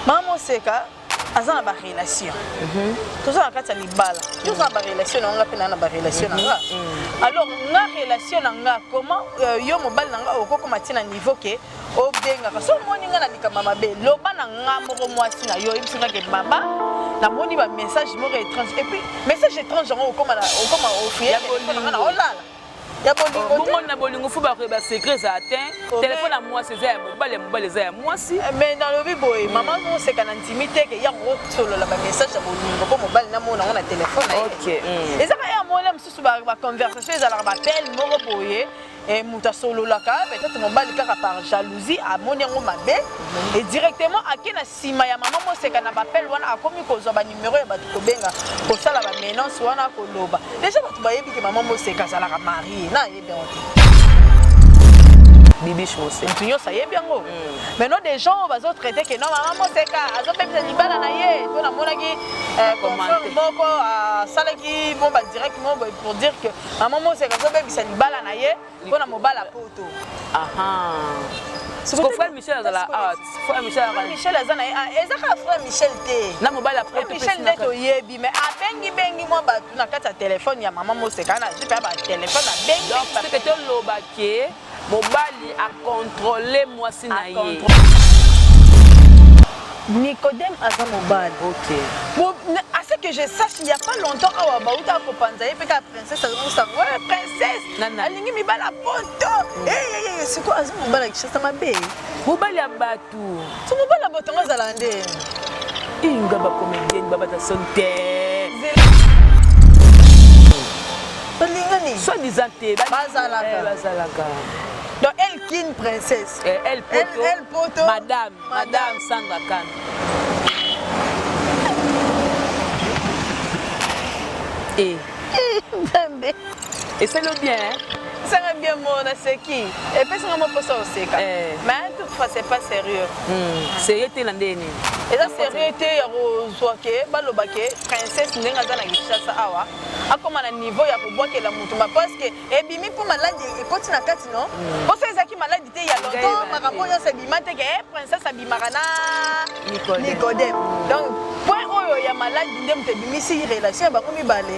mama moseka aza na barelation mhm. toza na kati ya libala yo oza na barelation na nga mpe naa na barelation na nga mhm. mhm. alors nga relation na nga comment euh, yo mobali na nga okokoma ti na niveau ke obengaka so omoni nga na likambo mabe loba na nga moko mwasi na yo oyebisi nga ke baba namoni bamessage moko étrange epuis message étrange yango okoma ofuyanga na olala ya bolingo bongo na bolingo fo bakoyeba secret ezala te telefone ya mwasi eza ya mobali ya mobali eza ya mwasi eh, mais nalobi boye mama moseka na ntimi te ke yango okosolola bamessage ya bolingo mpo mobali namona yango na telefone mm. eza kaka ya mola mosusu baconversation ezalaka bapele moko boye eh, moto asololaka peut-être mobali kaka par jalousie amoni yango mabe et directement ake na Sima ya maman Moseka na b'appel wana akomi kozwa ba numero ya batu kobenga kosala ba menance wana koloba deja batu bayebi ke maman Moseka azalaka marie na ayebi yango te. Bibiche Moseka. Mutu nyonso ayebi yango. Mm. Maintenant des gens oyo bazo traiter que non maman Moseka azo pemisa libala na ye mpo namonaki euh, confrère moko asalaki bon ba direct moko pour dire que maman Moseka azo bebisa libala na ye. mpo na mobali ya poto siko frère michel azala art frère michel azala michel aza na ah, eza kaka frère michel te na mobali ya poto michel nde toyebi mais abengi bengi mwa bato na kati ya telefone ya mama moseka na zipe ya batelefone abengi donc seke toloba ke mobali akontrole mwasi na ye Nicodème aza mobali. OK. Bon, à ce que je sache, il n'y a pas longtemps awa bauta ko panza ye pe ka princesse azo sango. Ouais, princesse. alingi mibali ya poto eyeyeye sikoyo aza mobali ya kishasa mabe mobali ya bato so mobali ya bato yango azala nde inga bakomedieni babata soni te balingani soi disant te bazalaka eh, donc elle kin princesse eh, elle poto, elle, elle poto madame madame, madame sangakan et eh. nzambe esali yo bien hein? sanga bien mo naseki epesanga mo mposa oseka Eh. mais toute fois c'est pas sérieux Hmm, sérieux te na ndenge nini eza sérieux te ya kozwa ke baloba ke princesse ndenge aza na kinshasa awa akoma na niveau ya kobwakela motu ma parce que ebimi mpo maladi ekoti na kati no mposo ezalaki maladi te ya lonto makambo nyonso ebima te ke eh, princesse abimaka na nicodem donc point oyo ya maladi nde moto ebimisi relation ya bango mibale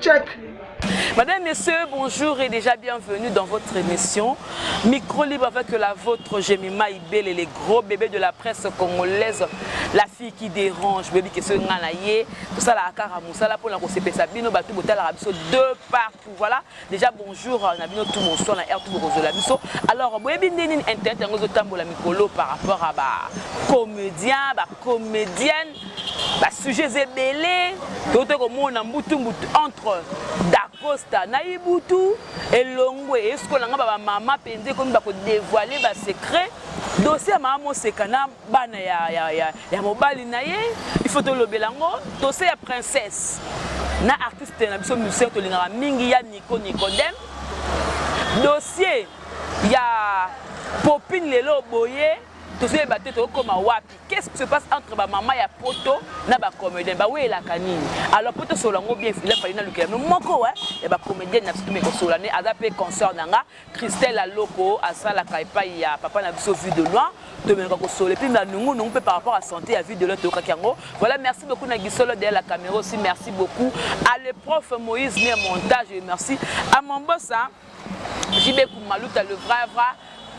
Check. Madame, Messieurs, bonjour et déjà bienvenue dans votre émission Micro Libre avec la vôtre, Jemima Ibele, les gros bébés de la presse congolaise, la fille qui dérange, baby qui se nganaye, tout ça la akara moussala pour la kosepe sabino, batou botala rabiso de partout. Voilà, déjà bonjour, euh, nabino tout bonsoir, na air tout bokozola biso. Alors, baby nini internet yango zo tambola mikolo par rapport à ba comédiens, ba comédiennes ba sujets ebele tote komona mbutu mbutu entre dacosta na ibutu elongwe esukola nga bamama mpenza ekomi bakodevoile basecret dosie ya mama moseka na bana ya, ya, ya, ya mobali na ye ifo tolobela yango dosie ya princesse na artiste na biso musicien tolingaka mingi ya nico nicodem dosie ya popine lelo boye tozoyeba te tokokoma wapi Qu'est-ce qui se passe entre ba maman ya poto na ba comediens ba welaka nini alors poto sola ngo bien il a fallu na lukela no moko hein ya ba comediens na biso meko sola ne aza pe concert na nga Christelle Aloko asala kai pai ya papa na biso vue de loin to meko ko sola puis na nungu nungu pe par rapport à santé ya vue de loin to kaki yango voilà merci beaucoup na gisolo de la caméra aussi merci beaucoup à le prof Moïse ne montage merci à mon boss hein JB Kumaluta le vrai vrai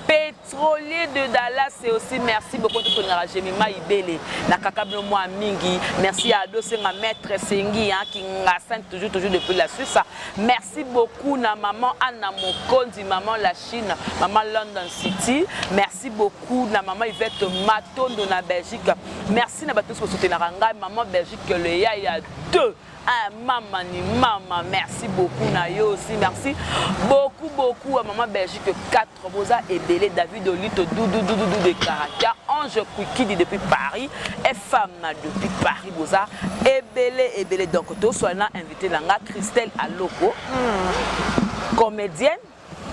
petrolier de Dallas et aussi merci beaucoup tout tolingaka Jemima Ibele na kaka bino mwa mingi merci à Ado Senga maître Sengi hein Kingasen toujours toujours depuis la Suisse merci beaucoup na maman Anna Mokonzi maman la Chine maman London City merci beaucoup na maman Yvette Matondo na Belgique merci na bato tous ko soutenaka ngai maman Belgique le yaya 2 Ah, mama ni mama merci beaucoup na yo aussi merci beaucoup beaucoup à maman belgique 4 boza ebele david olito dududududu de karakia ange kwikidi depuis paris fm depuis paris boza ebele ebele donc toswali na invité na nga christelle aloko hmm. comédienne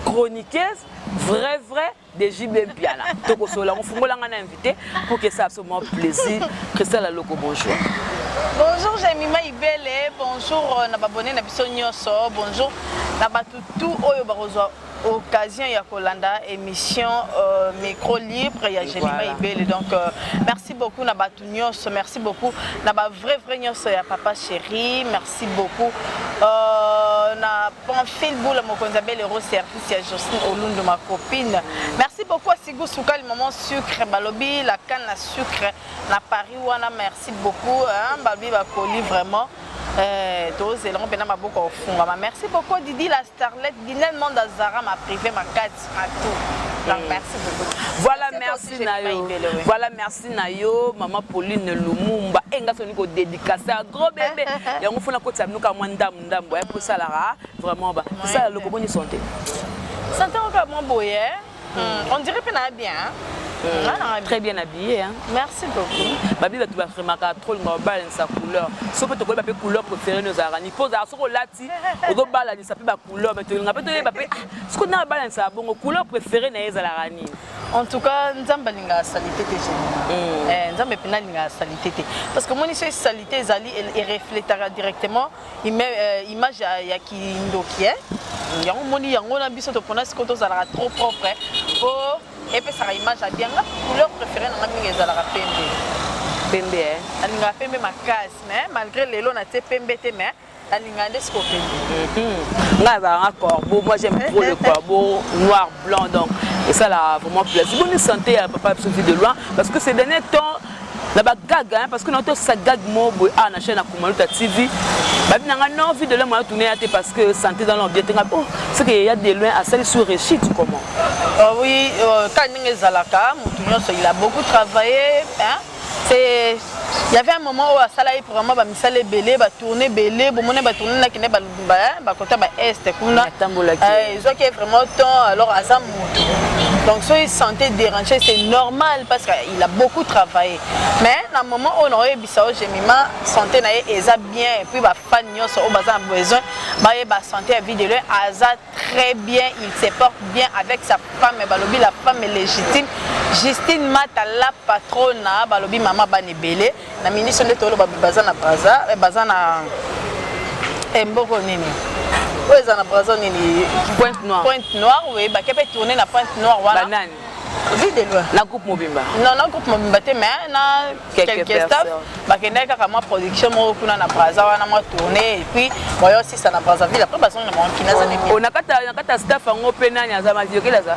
chroniqueuse vrai vrai de JB Mpiana. Toko solo yango fungola nga na invité pour que ça absolument plaisir. Christelle Aloko bonjour. Bonjour Jamima Ibele, bonjour euh, na babone na biso nyonso, bonjour na bato tout oyo bakozwa occasion ya kolanda émission euh, micro libre ya Jamima voilà. Ibele. Donc euh, merci beaucoup na bato nyonso, merci beaucoup na ba vrai vrai nyonso ya papa chéri. Merci Merci beaucoup. Euh, na Pamphile Boula Mokonzi Abel Euro service ya Jocelyne Olundu ma copine. Merci beaucoup à Sigou Soukali maman sucre balobi la canne à sucre na Paris wana merci beaucoup hein balobi ba colis vraiment euh, tozela mpe na maboko ofungama merci beaucoup Didi la Starlet Dinel Manda Zara ma prive ma kati ma tout. Donc merci beaucoup. Voilà, Merci à toi aussi, merci na Jemima yo. Ibele, oui. Voilà, merci na yo, maman Pauline Lumumba. Et nga soni ko dédicacer à gros bébé. Yango fona ko tsa nuka mwa ndam ndam. Ya ko sala vraiment ba. Ça le koboni santé. Santé oka mwa boye. Hmm, on dirait pe na bien hein? Euh, très bien habillé hein. merci beaucoup babi bato bafremaka trop linga babalanisa couleur so mpe tokoyeba mpe couleur préféré no ozalaka ni mpo ozalaka soki olati ozobalanisa mpe bacouleur me tolinga mpe toyeba mpe soki nanga balanisa bongo couleur préféré na ye ezalaka nini en tout cas nzambe alingaka salite te nzambe mpenza alingaka salite te parce que moni soki salite ezali erefletaka directement Ime, euh, image ya, ya kindoki eh? yango moni yango na biso topona sikoyo tozalaka trop propre po epesaka image ya bien nga couleur préféré nanga mingi ezalaka pembe pembe eh? alingaka pembe makasi mais malgré lelo na tie pembe te mais alingaka nde sikoyo pembe mhm. nga azalaka nga corbeau moi j'aime trop le corbeau noir blanc donc esalaka vraiment plaisir boni santé ya papa biso vie de loin parce que ces dernier temps na ba gag hein parce que na to sa gag mo boy ah na chaîne akumaluta TV babi na nga non vie de l'homme a tourné te parce que santé dans l'homme bien tenga oh c'est que il y a des loin à celle sur réussite comment oh oui euh, quand ninge zalaka mutu nyonso il a beaucoup travaillé hein c'est il y avait un moment où asala ye vraiment ba misala ebele ba tourner ebele bomone ba tourner na kende ba bakota ba est kuna eh, ezwaki ye vraiment temps alors aza moto donc soki santé dérange c'est normal parce qu'il a beaucoup travaillé mais na moment oyo nakoyebisa yo gemima santé na ye eza bien epuis bafan nyonso oyo baza na besoin bayeba santé ya vie de loin aza très bien il se porte bien avec sa femme balobi la femme légitime Justine Mata la patrona balobi mama bana ebele na ministre nde toloba baza na braza eh, baza na eh, mboko nini oyo eza na braza nini pointe noire pointe noire oui bake mpe tourne na pointe noire wana banani vue de loin na groupe mobimba non na groupe mobimba te mais na quelques staff bakendaki kaka mwa production moko kuna na braza wana mwa tourne et puis bayo sisa na brazzaville après bazongi na mokina aza oh, na kata staff yango mpe nani aza maziyokeli aza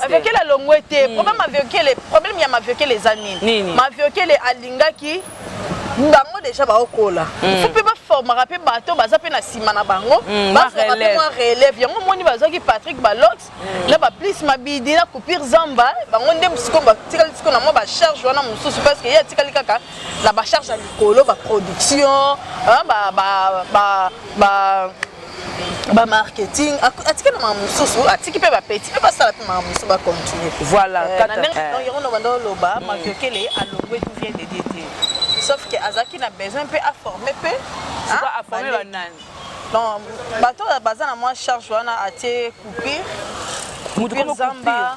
Maviokele alongwe te. Hmm. Problème Maviokele, problème ya Maviokele eza nini? Maviokele alingaki bango deja baokola hmm. il faut mpe baformaka mpe bato baza mpe na nsima na bango hmm, bazwaka mpe mwa relève yango omoni bazwaki patrick balox hmm. na baplice mabidi na coupure zamba bango nde sikoyo batikali sikoyo na mwa bacharge wana mosusu parce que ye atikali kaka na bacharge ya likolo baproduction ba, ba, ba, ba ba marketing atiki na makambo mosusu atiki mpe bapeti mpe basala mpe makambo mosusu bacontinue voilà eh, na ndenge eh. yango nobanda oloba hmm. maviokele alongwe tout vient de dieu te sauf que azalaki na besoin mpe aforme mpe aforme banani donc bato baza na mwa charge wana atie coupure moto zamba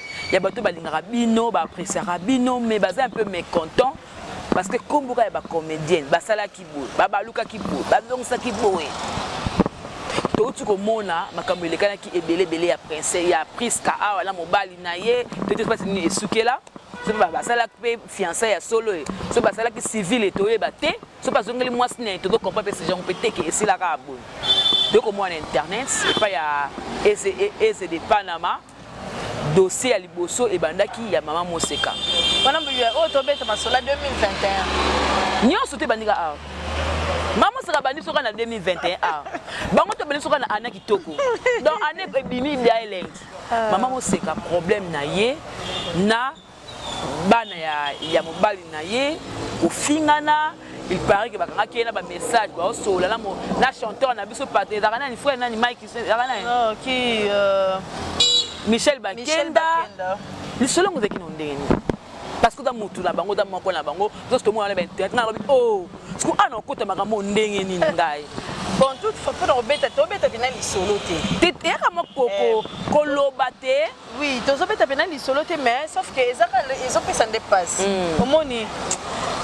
ya bato balingaka bino ba appréciaka bino mais baza un peu mécontent parce que kombo kaka ya ba comédienne basalaki boye babalukaki boye bazongisaki boye touti komona makambo elekanaki ebele ebele ya prince ya priska awa na mobali na ye toyeti mpasi nini esukela soki basalaki mpe fiança ya solo ye soki basalaki civile toyeba te soki bazongeli mwasi na ye tozo comprend mpe sejango mpe teke esilaka boye tokomona na internet epai ya eze de panama dossier ya liboso ebandaki ya mama moseka wana oyo oh, tobeta masola 2021 nyonso te ebandika awa mama moseka abandi soka na 2021 awa bango te obandi soka na ana kitoko donc ane ebimi bia elengi ah. mama moseka problème na ye na bana ya, ya mobali na ye kofingana il paraît que bakangaki ye na bamessage baosolola na, na chanteur na biso pate ezalaka nani frère nani mike ezalaka nani oh, ki, euh... michel bakenda lisolo yango ezalaki na ndenge nini parce que oza motu na bango oza moko na bango zosi tomona na bainternet nalobi o oh, siko ana okota makambo ndenge nini ngai bon toute façon obeta tobeta bina lisolo te eyaka moko eh. koloba te Oui, tozobeta pena lisolo te mais sauf que ezaka ezopesa nde pasi. Mm. Omoni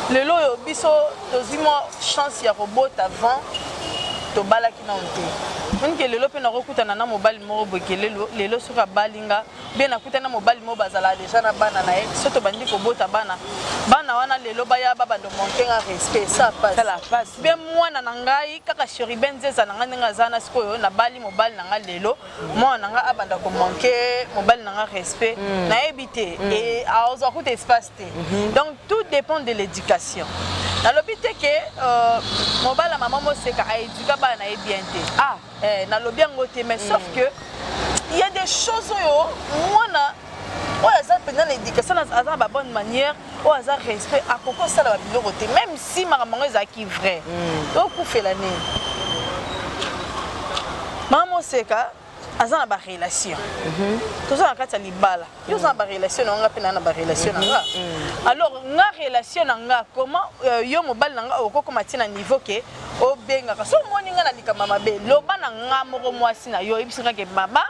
lelo oyo biso tozwi mwa chance ya kobota avant tobalaki nao te onike lelo mpe nakokutana na mobali moko boke lelo soki abali nga mpe nakutani na mobali moko bazalaka deja na bana na ye so tobandi kobota bana bana wana lelo baya babando monte nga respect sa pasi mpe mwana na ngai kaka cheriben zeza na ngai ndenge aza na sikoyo nabali mobali na ngai lelo mwana na nga abanda ko manque mobali na nga respect mm. nayebi te mm. et azwa kuta espace te mm -hmm. donc tout dépend de l'éducation nalobi te ke euh, mobala mama moseka aeduka bana na ye bien te ah. eh, nalobi yango te mais mm. sauf que il y a des choses oyo mwana oyo aza mpenza na éducation aza na babonne manière oyo aza respect akoki kosala babiloko te même si makambo yango ezalaki vrai mm. okufela nini mama moseka aza na barelation mhm. toza na kati ya libala yo oza na barelation na nga mpe naa na barelation na nga mhm. mhm. alors nga relation na nga comment euh, yo mobali na nga okokoma ti na niveau ke obengaka so omoni nga na likambo mabe loba na nga moko mwasi na yo oyebisi nga ke baba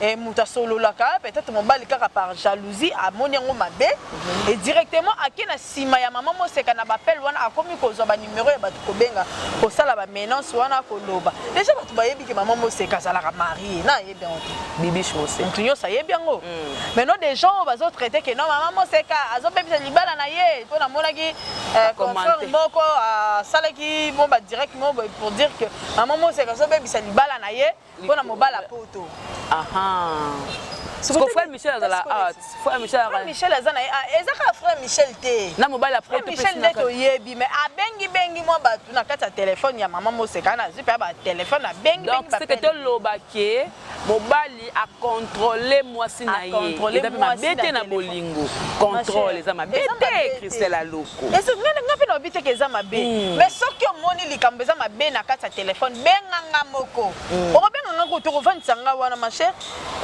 eh, moto asololaka peut-être mobali kaka par jalousie amoni yango mabe mhm. et directement ake na nsima ya mama moseka na bapele wana akomi kozwa banimero ya bato kobenga kosala bamenance wana koloba deja bato bayebi ke mama moseka azalaka marie na ayebi yango te bibish moseka moto nyonso ayebi yango mm. maintenant des gens oyo bazotraite ke non mama moseka azobebisa libala na ye mpo namonaki eh, confrere moko asalaki bon badirect moko pour dire que mama moseka azobebisa libala na ye Pona mobala poto. Aha. Siko frère Michel azala ah frère Michel azala. Frère Michel azana ah eza ka frère Michel te. Na mobali après tout Michel nde to yebi mais abengi bengi mwa batu na kati ya téléphone ya maman Moseka na zipa ba téléphone abengi bengi ba. Donc c'est que to loba ke mobali a contrôler mwasi na ye. Eza pe mabete na bolingo. Contrôle eza mabete Christelle Alo. Esi nga nga pe na obi te ke eza mabe. Mm. Mais soki omoni likambo eza mabe na kati ya téléphone, benga nga moko. Mm. Oko benga nga ko toko vandisa nga wana ma chère.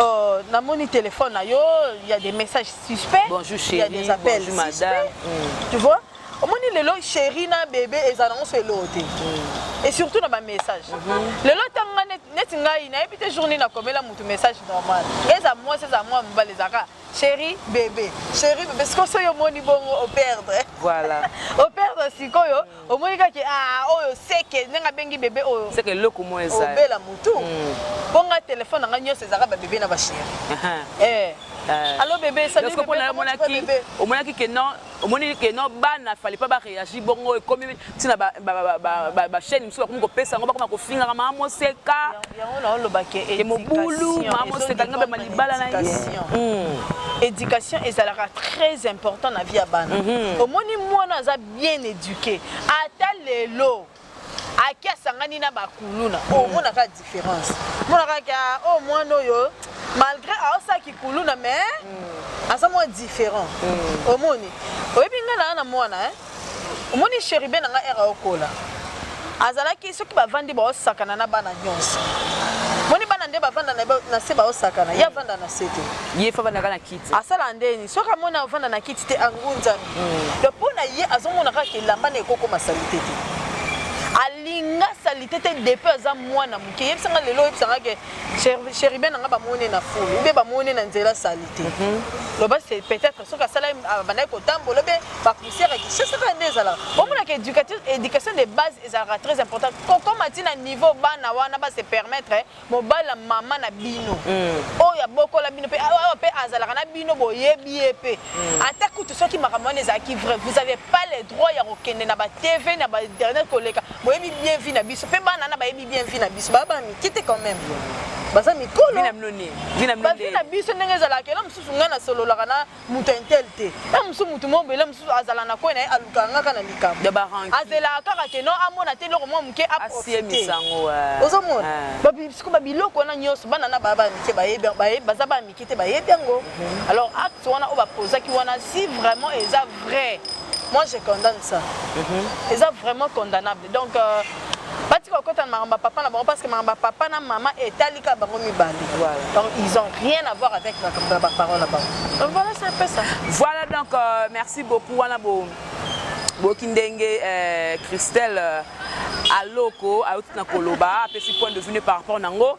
Euh, na moni téléphone na yo, il y a des messages suspects. Bonjour chérie, il y a des appels bonjour madame. Suspects, mm. Tu vois? Omoni lelo chérie na bébé ezala ngo so elo te. Mm. Et surtout na ba messages. Mm -hmm. Lelo tanga neti ngai na yebi te journée na komela mutu message normal. Eza moi, eza moi mobali ezaka. Cherie bebe, cherie bebe, sikoyo soki omoni bongo o perdre. Voilà. o perdre sikoyo, mm. omoni kaka ah oyo seke ndenge abengi bebe oyo. Seke eloko moko eza. Obela mutu. Mm. Mpo nga telefone na nga nyonso ezalaka ba bebe na ba cherie. Uh-huh. eh. Uh, Allo bebe, salut bebe, comment tu vas bebe? Omonaki que non, omoni ke no bana fallait pas ba réagir bongo ekomi ntina bachaîne mosusu bakomi kopesa yango bakoma kofingaka maa moseka ke mobulu maa moseka linga bema libala na ye hmm. éducation ezalaka très important na vie ya bana mhm. omoni mwana aza bien éduqué ata lelo Aki asangani na ba kuluna. Oh, hmm. mona ka différence. Mona ka ka oh mwana oyo malgré aosa ki kuluna mais hmm. aza mwa différent. Hmm. Omoni. Oyebi nga na na mwana hein. Omoni cheribe na nga era okola. Azalaki soki bavandi baosakana na bana nyonso. Moni bana nde bavanda na se baosakana. Ye avanda na se te. Ye fa bana kana kiti. asala ndeni soki amoni avanda na kiti te angunzami mm. donc mpo na ye azomona kaka elamba na ekokoma salite te alinga salite te depi aza mwana moke yebisa nga lelo oyebisa nga ke cheribe na nga bamoni na fulu ube bamoni na nzela salite mhm. loba se peut-être soki asala abandaki kotambola obe bapoussière ekisese kaka nde ezalaka omonaka éducation de base ezalaka très importante kokoma ntina niveau bana wana base permettre Mobali ya mama na bino hmm. oyo abokola bino mpe awa mpe azalaka na bino boyebi ye mpe hmm. ata kutu soki makambo wana ezalaki vrai vous avez pas le droit ya kokende na batv na bainternet koleka boyebi bien vie na biso mpe bana na bayebi bien vie na biso baa bana mike te quand même baza mikolo bavi na biso ndenge ezalaka elo mosusu ngai nasololaka na moto ya intel te na mosusu moto moko bele mosusu azala na koi na ye alukaka ngaka na likambo azelaka kaka keno amona te eloko mwa moke aprofiteyango ozomona siko babiloko wana nyonso bana na baa baya mike bayebi baza baya mike te bayebi yango mhm. alors acte wana oyo bapozaki wana si vraiment eza vrai moi je condamne ça mhm. eza vraiment condamnable Donc batika kokota na makambo ya papa na bango parce que makambo ya papa na mama etali kaka bango mibale donc ils ont rien à voir avec baparole na bango donc voilà c'est un peu ça voilà donc euh, merci beaucoup wana bo boyoki ndenge euh, christelle euh, aloko ayoti na koloba apesi point de vue ne par rapport na yango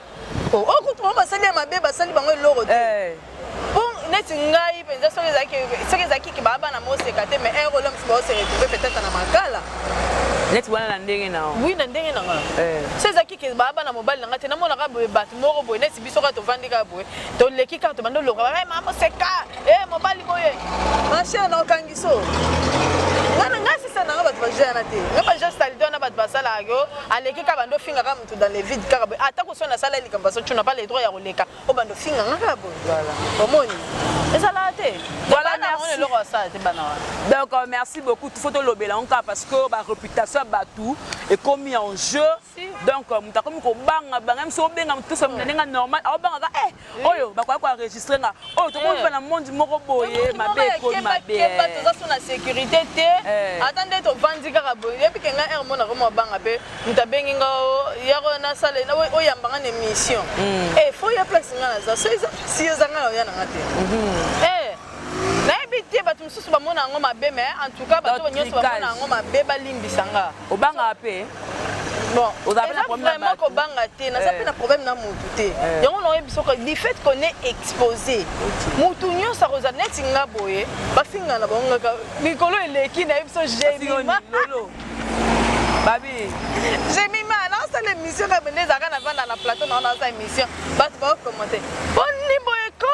Oh, oh kutu bango basali ya mabe basali bango eloko te eh. po neti ngai mpenza soki ezalaki ke baa bana moseka te mais heure olomisi baose retrouve peut-être na makala neti wana na ndenge na oui na ndenge na ngai eh. so ezalaki ke baa bana mobali na ngai te namonaka boye bato moko boye neti biso kaka tovandi kaka boye toleki kaka tobandi oloka baa mama moseka Eh mobali boye. Ma chère na okangiso. Ngana nga sisa na bato ba jana te. Nga ba jana sali dona bato ba sala yo. Aleki ka bando finga ka mutu dans le vide ka ba. Ata ko sona sala lika baso tuna pas le droit ya koleka. O bando finga nga ka bo. Voilà. Omoni. Ezala te. Voilà na on eloko sala te bana wana. Donc euh, merci beaucoup. Tout faut to lobela on ka parce que ba réputation ya bato ekomi en jeu. Donc euh, mutu akomi ko banga banga même si obenga mutu so ndenge normal. Obanga ka eh oyo bakoya ko enregistre nga oyo oh, tokomi eh. na monde moko boye mabe ekomi mabe kemba eh. toza so na sécurité te eh. ata nde tovandi kaka boye yebi ke nga heure mona koma banga pe mutu abengi nga oh, yako na sale oyamba nga na émission hmm. e fo ya place nga naza so eza si eza nga na oya na nga te mhm. nayebi te bato mosusu bamona yango mabe mais en tout cas bato nyonso bamona yango mabe balimbisa nga obangaka mpe bon eza vraiment kobanga te naza eh. mpe na problème na mutu te eh. yango naoyebi soko du fait qu'on est exposé mutu nyonso akozala neti nga boye bafinga na bango ngaka mikolo eleki nayebi so gemima babi gemima naosala émission kaka bende ezalaka na vanda na plateau nao naza émission bato baokommente boni boye ko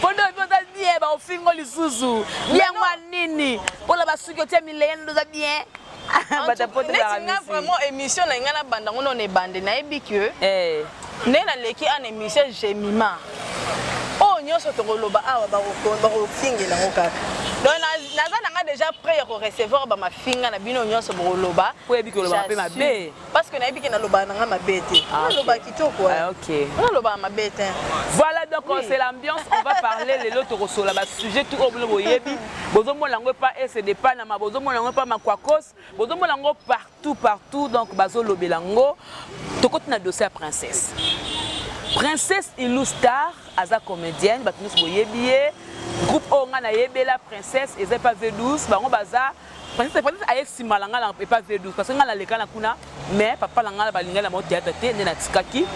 Fondo yo oza bien ba ofingo lisusu. Bien mwa nini? Pola basuki otie mileye ndo oza bien. neti nga vraiment émission na ngai nabanda ngo nona ebande nayebi ke eh. nde naleki an émission gemima oyo oh, nyonso tokoloba awa bakofingela ngo kaka donc naza na nga déjà prêt ya korecevoir bamafinga na bino nyonso bokoloba po yebi koloba mabe mabe parce que nayebi ke nalobaka na nga mabe te ah, naloba kitoko eh. ah, nalobaka mabe te voilà donc euh, c'est l'ambiance on va parler lelo tokosola basujet tout oyo bino boyebi bozomona yango epa ese depanama bozomona yango epa makwakos bozomona yango partout partout donc bazolobela yango tokoti na dossier ya princesse princesse ilu star aza comédienne bato nyonso boyebi ye groupe oyo ngai nayebela princesse eza epa v12 bango baza Princesse, princesse aye sima na ngai na epa V12 parce que ngai naleka na kuna mais papa na ngai balingani na bango théâtre te nde natikaki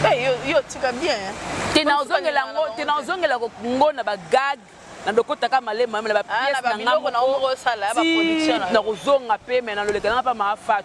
Hey, yo, yo tika bien. hein. te Comme soki nazongela balingana yango na te bango nazongela ngo na bagag na dokotaka malema na Ah, na bapiese ba na ngai biloko na yo moko moko osala, ya ba production na yo. nakozonga mpe me naloleka nanga mpa maafat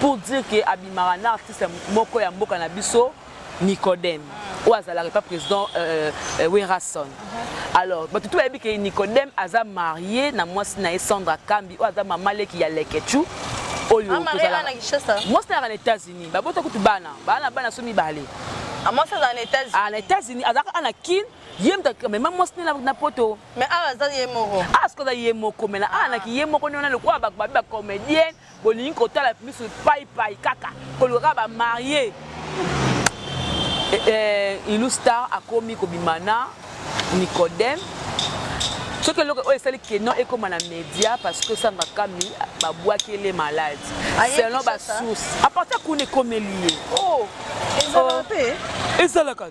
pour dire que abimaka na artiste moko ya mboka na biso Nicodème oyo azalaka epa président euh, euh, Werrason alors bato tout bayebi ke Nicodème aza marié na mwasi na ye Sandra Kambi oyo aza mama leki ya Leketchou oyo ah, mwasi nayaka na États-Unis babota kutu bana bana na bana so mibale ah, mwasi azala na États-Unis ah, na États-Unis azalaka ana Kin ye moto amema mwasi nde na poto mais awa aza ye moko awa soki aza ye moko mena awa naki ye moko nde wana lokola babi bacomédienne Bolingi kotala misu pai pai kaka koluka kaka ba marie eh, ilu star akomi kobima na nicodem soki eloko oyo esali keno ekoma na media parce que samba kami babwaki ele malade selon basource apartir kuna ekomeli ye oh. oh. ezalaka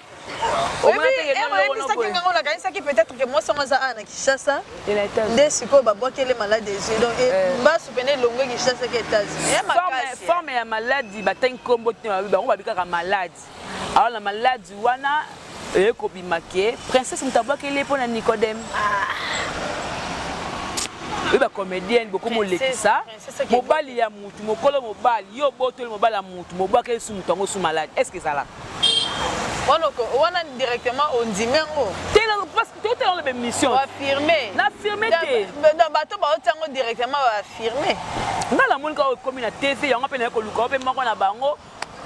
oyebisaki nga ngo nakanisaki peut-être que mwasi yango aza awa na kinshasa nde sikoyo babwakele malade ezwi donc eh, eh. mbasu pene elongwe kinshasa ke états-uniesforme eh, ya maladi batangi nkombo te bango babi kaka maladi awa na maladi wana eye kobima ke princesse moto abwakeli ye mpo na nicodème oyo bacomédienne bokomolekisa mobali ya motu mokolo mobali yo obotoli mobali ya motu mobwakeli su moto yango su maladi est ce que ezalaka Wana oko- wana directement ondimi yango Te na parce que totala na ba émission. oaffirme Na affirme te. donc bato baotia yango directement baaffirme Nga na moni kaka oyo ekomi na TV yango mpe naye koluka oyo mpe moko na bango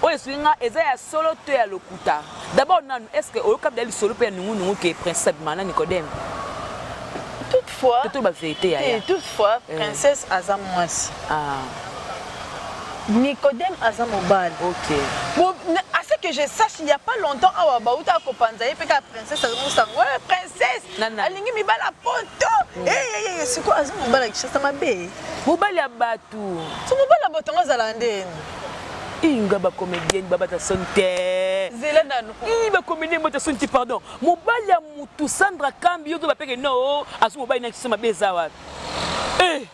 oyo esuki nga eza ya solo to ya lokuta. D'abord nanu est ce que oyoka bida lisolo mpe ya nungu nungu ke Prince Abima na Nicodème. toutefois Toto ba vérité ya te ya. toutefois Eh. princesse aza mwasi Ah. Nicodem aza mobali. Ok. Bo, à ce que je sache, il n'y a pas longtemps awa bauta ko panza ye peka princesse azo musango. Ouais, princesse. Nana. Alingi mibala poto. Mm. Eh eh eh, eh siko azo mobala kishasa mabe. Mobali ya batu. So mobali ya batu ngazala ndeni. inga bacomédienne babata soni te zela nanu i bacomédienne bata soni te pardon mobali ya mutu sandra kambi yo to bapeke no azo mobali na kiso mabe eza wapi eh.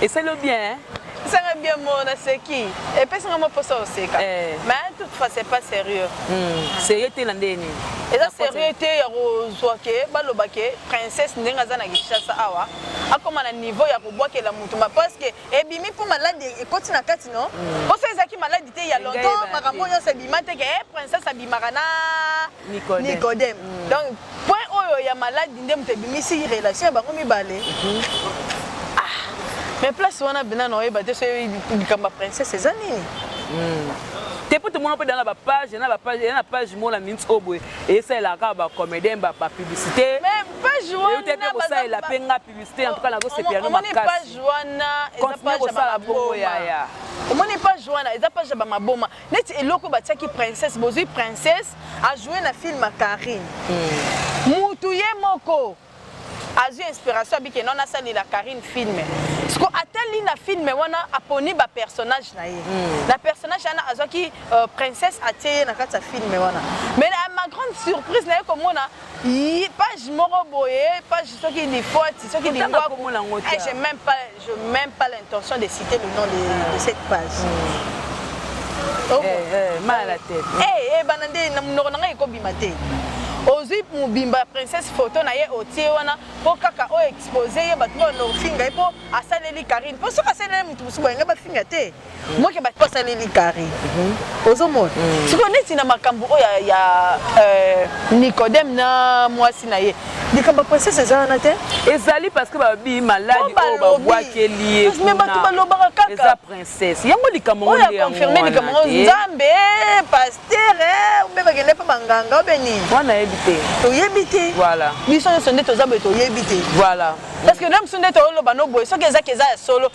esali yo bien hein? esanga bien mo naseki epesi nga mwa mposa oseka eh. mais toute fois c'est pas sérieux hmm. sérieux te na ndenge nini eza sérieux te ya kozwa ke baloba ke princesse ndenge aza na kinshasa awa akoma na niveau ya kobwakela motu ma parce que ebimi mpo maladi ekoti na kati no mposo hmm. ezalaki maladi te ya longtemps makambo nyonso ebima te ke eh, princesse abimaka na Nicodème. Nicodème. Mm. Donc point oyo ya maladi nde moto ebimisi relation ya bango mibale. Mm -hmm. Ah. Mais place wana bina na oyeba te soki likambo ya princesse eza nini? Mm. te mpo tomona mpe dana bapage na bapage na page moko na minute oyo boye esalelaka kaka bacomédien bapublicité te mpe kosalela mpe nga publicité en tout cas nazosepela no makasi continue kosala bongo yaya omoni page wana eza page ya bamaboma neti eloko batiaki princesse bozwi princesse ajoue na film ya carine hmm. mutu ye moko azwi inspiration abike nona asalela carine film siko atali na film wana aponi bapersonnage na ye mm. na personnage wana azwaki uh, princesse atie ye na kati ya film wana mais na ma grande surprise naye komona page moko boye page soki lifoti soki lingwaku eh, j'ai même pas Je n'ai même pas l'intention de citer le nom de, de mm. cette page. Mm. Oh, eh, eh, mal à la tête. Eh, hey, eh, banande, na munoko nanga ekobima te. ozwi mobimba princesse photo na ye otie wana mpo kaka oyo expose ye bato oyo nofinga ye mpo asaleli karine mpo soki asaleli moto mosusu boye ngai bafinga te moke basaleli kari ozomona mm. sikoyo neti na makambo oyo ya, ya euh, nicodème na mwasi na ye likambo ya princesse eza wana te ezali parce que babi maladi oyo babwakeli ye kuna bato balobaka kaka eza princesse yango likambo oyo akonfirme likambo ngo nzambe paster obe eh, bakende mpe banganga obe nini wana yebi te toyebi te voilà biso nyonso nde toza boye toyebi te voilà parce que na mosu nde tooloba no boye soki ezaki eza ya solo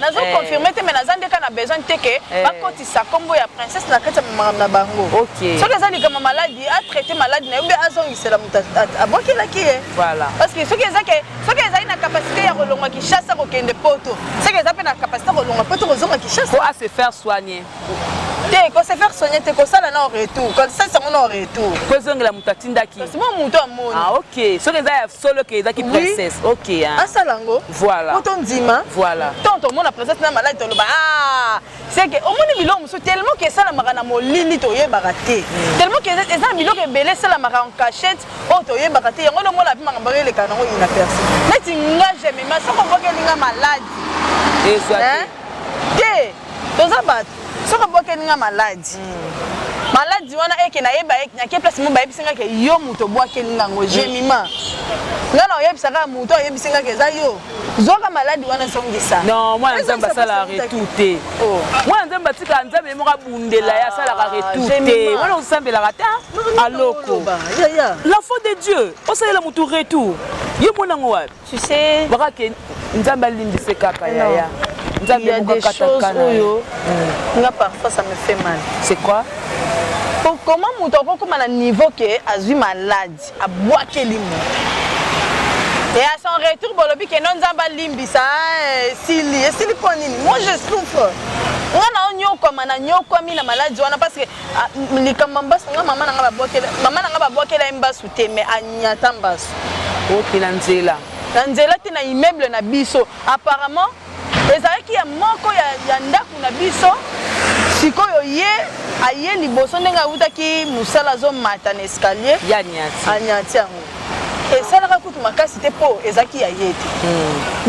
nazo Eh. confirme te mais naza nde kaka na besoin te ke Eh. bakotisa nkombo ya princesse na kati ya makambo na bango Ok. soki eza likambo ya maladi atraite maladi na ye mpe azongisela moto at- at- abwakelaki ye Voilà. parce que soki eza ke soki ezali na capacité ya kolongwa kinshasa kokende poto soki eza mpe na capacité ya kolongwa poto kozonga kinshasa Faut à se faire soigner. te ko se faire soigner te kosala na retour kosala sango na retour po ezongela moto atindaki kasi mo moto amoni ah ok soki eza ya solo ke ezaki princesse ok hein. asala yango voilà po tondima voilà tant tomona princesse na maladi toloba ah c'est que omoni biloko mosusu tellement ke esalamaka na molili toyebaka te hmm. tellement ke eza na biloko ebele esalamaka en cachette oyo oh, toyebaka te yango nde omona api makambo eleka nango inaperci neti nga jemema soko obokelinga maladi ezwa te toza bato soki obwakeli nga maladi maladi wana eke nayeba nake place mo bayebisi nga ke yo moto obwakeli nga yango jemima nga na oyebisa kaka moto oyebisi nga ke eza yo zwaka maladi wana ezongisa non mwana nzambe asala retour te oh. mwana nzambe atika nzambe ye moko abundela ye asalaka ah, retour te wana osambelaka ata aloko la faute de dieu osalela motu retour yo mona yango wapi tu sais baka ke nzambe alimbise kaka yaya nzambe mokakatakana oyo hmm. nga parfois ça me fait mal c'est quoi comment moto akokoma na niveau ke azwi malade abwakeli moto et à son retour bolobi ke no nzambe alimbisa eh, esili esili mpo nini moi je souffre nga naonyokwama nanyokwami na maladi wana parce que Ah, likambo mbasu nga mama na nga babwakela mama na nga babwakela ye mbasu te mais anyata mbasu oki na nzela na nzela te na immeuble na biso apparemment ezalaki ya moko ya, ya ndako na biso sikoyo ye aye liboso ndenge awutaki mosala azomata na escalier anyati yango esalaka kutu makasi te mpo ezalaki ya ye te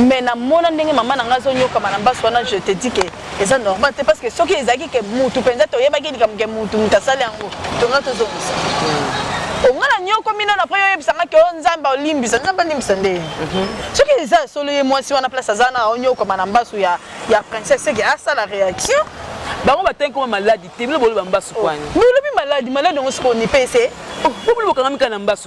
mais hmm. namona ndenge mama na ngai azonyokama na mbasu wana je te dis ke eza normal te parce que soki ezalaki ke mutu penza toyebaki likambo ke mutu mutu asali yango tonga tozongisa hmm. onga na nyoko mino na après oyebisa nga ke o oh, nzambe olimbisa nzambe alimbisa nde mhm. soki eza ya solo ye mwasi wana place aza na onyokoma na mbasu ya, ya princesse seke asala réaction bango batangi koma maladi te bino boloba mbasu kwani oh, bolobi maladi maladi yango sikoyo nipese oh, po bino bokangami kaka na mbasu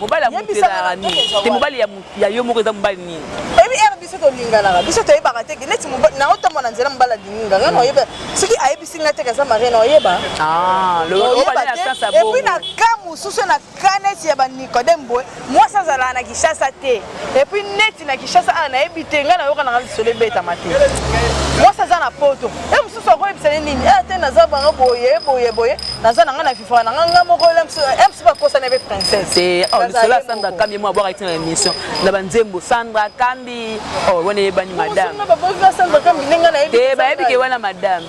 mobali ya moto ezalaka nini te mobali ya yo moko eza mobali nini oyebi ere biso tolinganaka biso toyebaka te neti naotambo na nzela mobali alingi nga nga naoyeba soki ayebisi nga teke aza marie naoyeba ah, epuis na ka mosusu na ka neti ya banicodem boye mwasi azalaka na kishasa te Et puis neti na Kinshasa awa nayebi te ngai nayoka nanga lisolo ebetama te mwasi aza na poto e eh, mosusu akoyebisa ye nini e eh, te naza banga boye boye boye naza nanga na vivra nanga nga moko e mosusu bakosana ebe princesse oh, lisolo ya sandra kambi mwa bwaka tina na émission na banzembo sandra kambi oh, wana eyebani madame te bayebi ke wana madame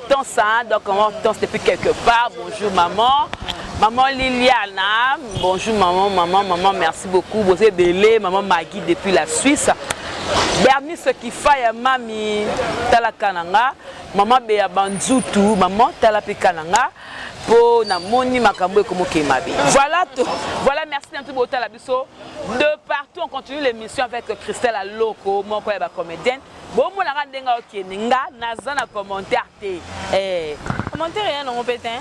Hortense, hein? donc Hortense depuis quelque part. Bonjour maman. Maman Liliana, bonjour maman, maman, maman, merci beaucoup. Vous êtes belé, maman Maggie depuis la Suisse. Bernice Kifaya, mami, tala kananga, maman Bea Banzutu, maman tala pe kananga. Po na moni makambo ekomoke mabe. Voilà tout. Voilà, merci na tout botala biso. De partout, on continue l'émission avec Christelle Aloko, mon coin comédienne. bomona ka ndenge okende nga naza na commentaire te eh. commentaire ya nango mpe te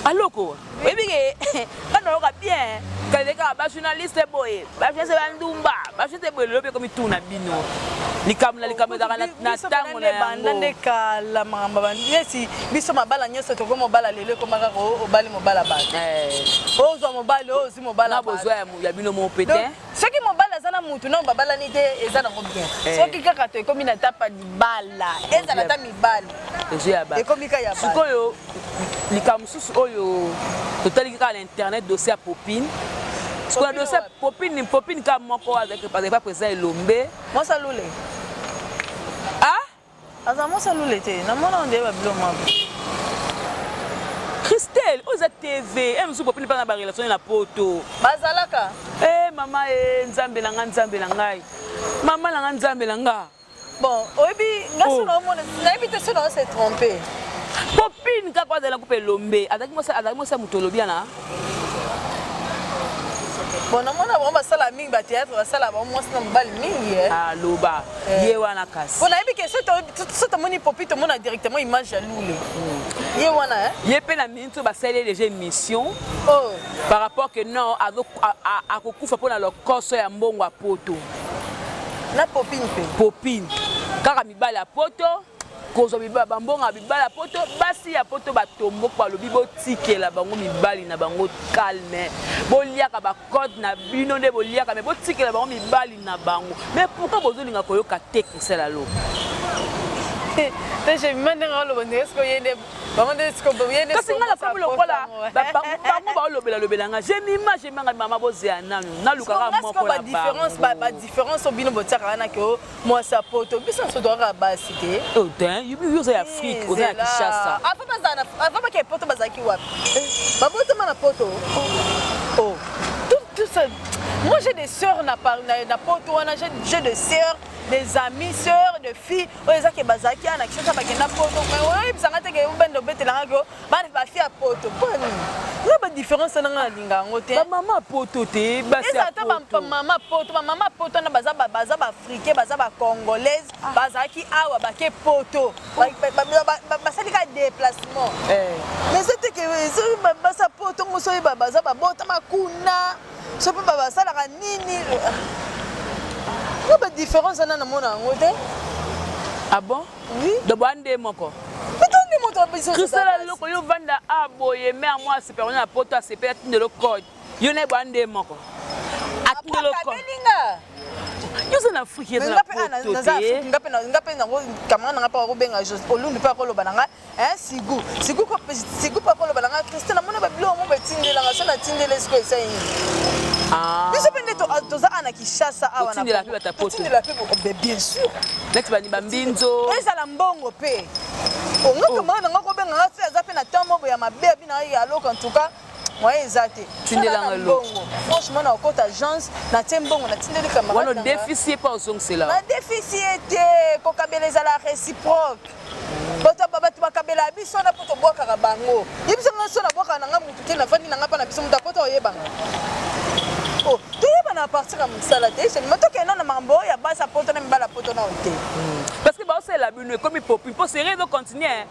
aloko oyebi ke nga nayoka bien kalekaka bajournaliste boye bajournaliste bandumba bajournaliste boye lelo mpe komituna bino likambo na likambo ezalaka na ntango na yango nde kala makambo bandesi biso mabala nyonso tokoki mobala lelo ekoma kaka obali mobala bato eh. ozwa mobali oyo ozwi mobala bozwa ya bino moko mpe te soki mobali aza na mutu nao babalani te eza nango bien eh. soki kaka to ekomi na tapa libala ezala ata mibali ekomi ka ya sikoyo likambo mosusu oyo totaliki kaka na internet dossier ya popine sikoyo dossier popine popine kaka moko avec pas eza elombe mosalule Aza mwasi ya lule te. Na mwana ondele ba bilo mwa. Christelle, oyo eza TV, eh mosusu bopeli bana ba relation na poto. Bazalaka. Eh mama eh nzambe na nga nzambe na ngai. Mama na nga nzambe na nga. Bon, oyebi nga oh. sona omona, nayebi te sona se tromper. Popine kaka azala kupe lombe, azaki mosa azaki mosa mutolobia na bon namona bango basala mingi bateatre basala bango mwasi na mobali mingi eh. aloba ah, eh. ye wana kasi mpo nayebi ke so tomoni popi tomona directement image ya lule hmm. ye wana eh. ye mpe na minute oyo basali ye déjà émission oh. par rapport que non akokufa mpo na lokoso ya mbongo ya poto na popine mpe popine kaka mibali ya poto kozwa bibala bambongo ya bibala ya poto basi ya poto batombok balobi botikela bango mibali na bango calme boliaka bacode na bino nde boliaka me botikela bango mibali na bango me pourkui bozolinga koyoka te kosala lo kasi nga nakomi lokola bango baolobela lobela nga jemima jemanga mama bozela nanu nalukaka moko na bango mwasi ya poto biso nyonso tokaka basi te oh, yo oza ya afrike oza ya kishasa avant bakee poto bazalaki wapi eh. babotama na poto oh. oh. moi j'ai des sœurs na, na, na poto wana j'ai des sœurs des amis sœurs de filles oyo ezake bazalaki ana kishasa bakenda poto oyebisanga teke obende obetelangaki Bana basi ya poto mpo na nini? Nga ba difference na nga nalinga yango te. Ba mama poto te, basi ya poto. Eza ata ba mama poto, ba mama poto na baza ba baza ba africain, baza ba congolaise, ah. bazalaki awa bake poto. Basali ka déplacement. Eh. Mais c'était que ezo basa poto ngoso ba baza ba bota makuna. Sopi ba basala ka nini? Nga ba difference na na mona yango te. Ah bon? donc boa nde moko krisela eloko yo vanda a boye me ya mwasi mpe ona na poto asepeli atindelo code yo naye boa nde moko atindelo code yoza na afrike eza na poto te nga mpe yango camarade na nga mpe akobenga olundu mpe akoloba na ngai Eh, sigu sigu sigu papa oloba na nga christian namoni babiloko mo batindelanga so natindele siko eza yini ah. biso mpe nde toza ana kishasa awatindela mpe batapotoindela mpe oh, bien sûr neti bani bambinzo ezala mbongo mpe ongakomana oh, nanga kobenga nga se aza mpe na temps moko ya mabe abinaka ye aloko en tout cas moyen eza te tindela nga eloko franchement na okota agence na tie mbongo na tindeli camarade wana deficie pa ozongisela na deficie te kokabela ezala réciproque bato bato bakabela biso wana mpo tobwakaka bango ye biso nga so nabwakaka na nga motu te nafandi na nga mpa na biso moto akota oyebanga oh, toyebana apartir ya mosala te seulement tokenda na makambo oyo ya basi apoto na mibala apoto nao te hmm. parce que baosalela bino ekomi popi mpo serie ezocontinue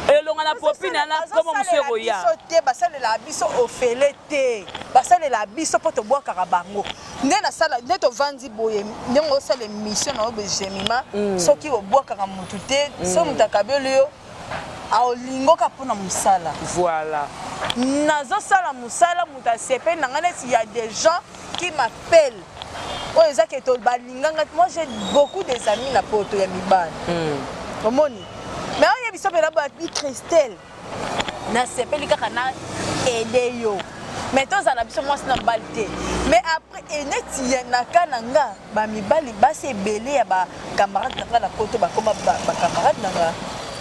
elonga na popi na na komo mosusu ekoya te basalelaka biso ofele te basalelaka biso mpo tobwakaka bango nde nasala nde tovandi boye ndenge osala emission na yo begemima mm. soki obwakaka motu te mm. soki moto akabeli yo aolingoka mpo na mosala voilà nazosala mosala moto asepeli na ngai neti ya des gens Qui m'appelle oyo eza ke to balinganga moi j'ai beaucoup des amis na poto ya mibali mm. omoni mais oyo biso mpena babi christelle nasepeli kaka na ede yo mais tozala biso mwasi na mobali te mais après eneti na ka na nga bamibali basi ebele ya bacamarade na nga na poto bakoma bacamarade na nga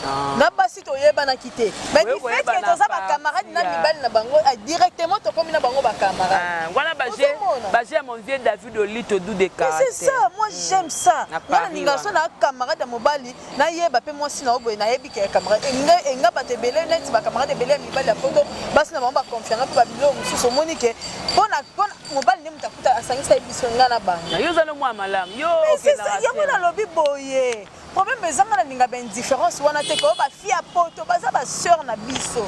ah. na basi toyebanaki te mais du fait que toza ba camarade na mibali na bango ah, directement tokomi na bango ba camarade ah, wana ba jeu ba jeu mon vieux David Olito du de caractère c'est ça moi hmm. j'aime ça na ninga so na camarade mobali na yeba pe moi sina oboye na yebi ke camarade enga enga ba te belé net ba camarade belé mibali ya poto basi na bango ba confiance pe ba bilo mususu omoni ke pona pona mobali ne mutakuta asangisa biso nga na bango yo za no mwa malam yo c'est ça yango na lobi boye Problème eza nga na linga ba indifference wana te ko ba fille ya poto baza ba sœur na biso.